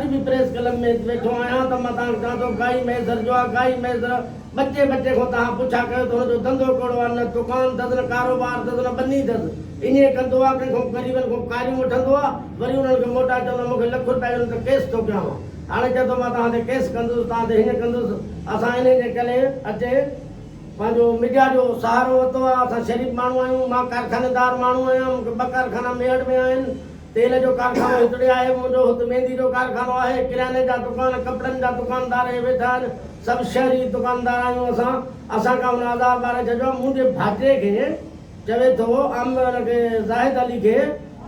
اڄ به press club ۾ ويٺو آهيان ته مان توهان کي چوان ٿو گائي مهيسر جو آ گائي مهيسر ٻچي ٻچي کان توهان پڇا ڪيو ته هن جو ڌنڌو ڪهڙو آ نه دڪان ٿس نه ڪاروبار ٿس نه ٻني ٿس ايئن ڪندو آ ڪنهن کان غريبن کان ڪاريون وٺندو آ وري انهن کي موٽائي چوندو آ مون کي لک روپيا ڏيو نه ته ڪيس ٿو ڪيانو هاڻي چئي ٿو مان توهان تي ڪيس ڪندس توهان تي هيئن ڪندس اسان انهي جي ڪري اچي پنهنجو مڊيا جو سهارو ورتو آ اسان شريف ماڻهو آهيون مان ڪارخانيدار ماڻهو آهيان مون کي ٻه ڪارخانا ميهڙ ۾ آهن تيل جو ڪارخانو هتڙي آهي، منهنجو هت ميندي جو ڪارخانو آهي، ڪرياني جا دڪان، ڪپڙن جا دڪاندار اهي ويٺا آهن، سڀ شهري دڪاندار آهيون اسان، اسان کان هن آزار ٻاري ڇڏيو آهي، منهنجي ڀاتيء کي چوي ٿو ام ان کي زاهد علي کي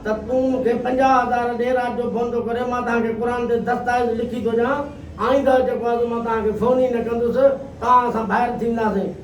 ته تون مون کي پنجاهه هزار ڏي، رات جو فون ٿو ڪري، مان توهان کي قرآن تي دستائويز لکي ٿو ڏيان، آئنده جيڪو آزو مان توهان کي فون ئي نه ڪندس، توهان اسان ڀائر ٿينداسين.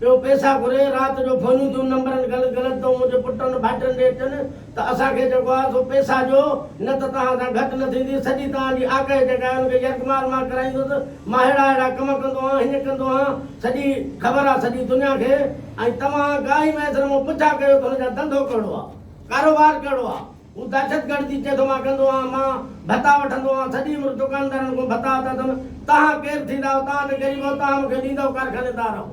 ٻيو پئسا گهري، رات جو فونيون ٿيون نمبرن گل گلت تون منهنجي پٽن ڀائٽن ڏي چن ته اسان کي جيڪو آهي سو پئسا ڏيو نه ته توهان سان گهٽ نه ٿيندي، سڄي توهان جي آڪهه جيڪا آهي ان کي يرغمال مان ڪرائيندس، مان ههڙا ههڙا ڪم ڪندو هان، هيئن ڪندو هان، سڄي خبر آهي سڄي دنيا کي ۽ توهان گاهي ميسر مون پڇا ڪيو ته هن جا ڌنڌو ڪهڙو آهي، ڪاروبار ڪهڙو آهي. هو دهشتگرد جي چيٿ مان ڪندو آهان مان ڀتا وٺندو آهان سڄي عمر دڪاندارن کون ڀتا وتا اٿم تهان ڪير ٿيندا آهو تهان ته غريب آهو تهان مونکي ڏيندؤ ڪارخاني دار آهو.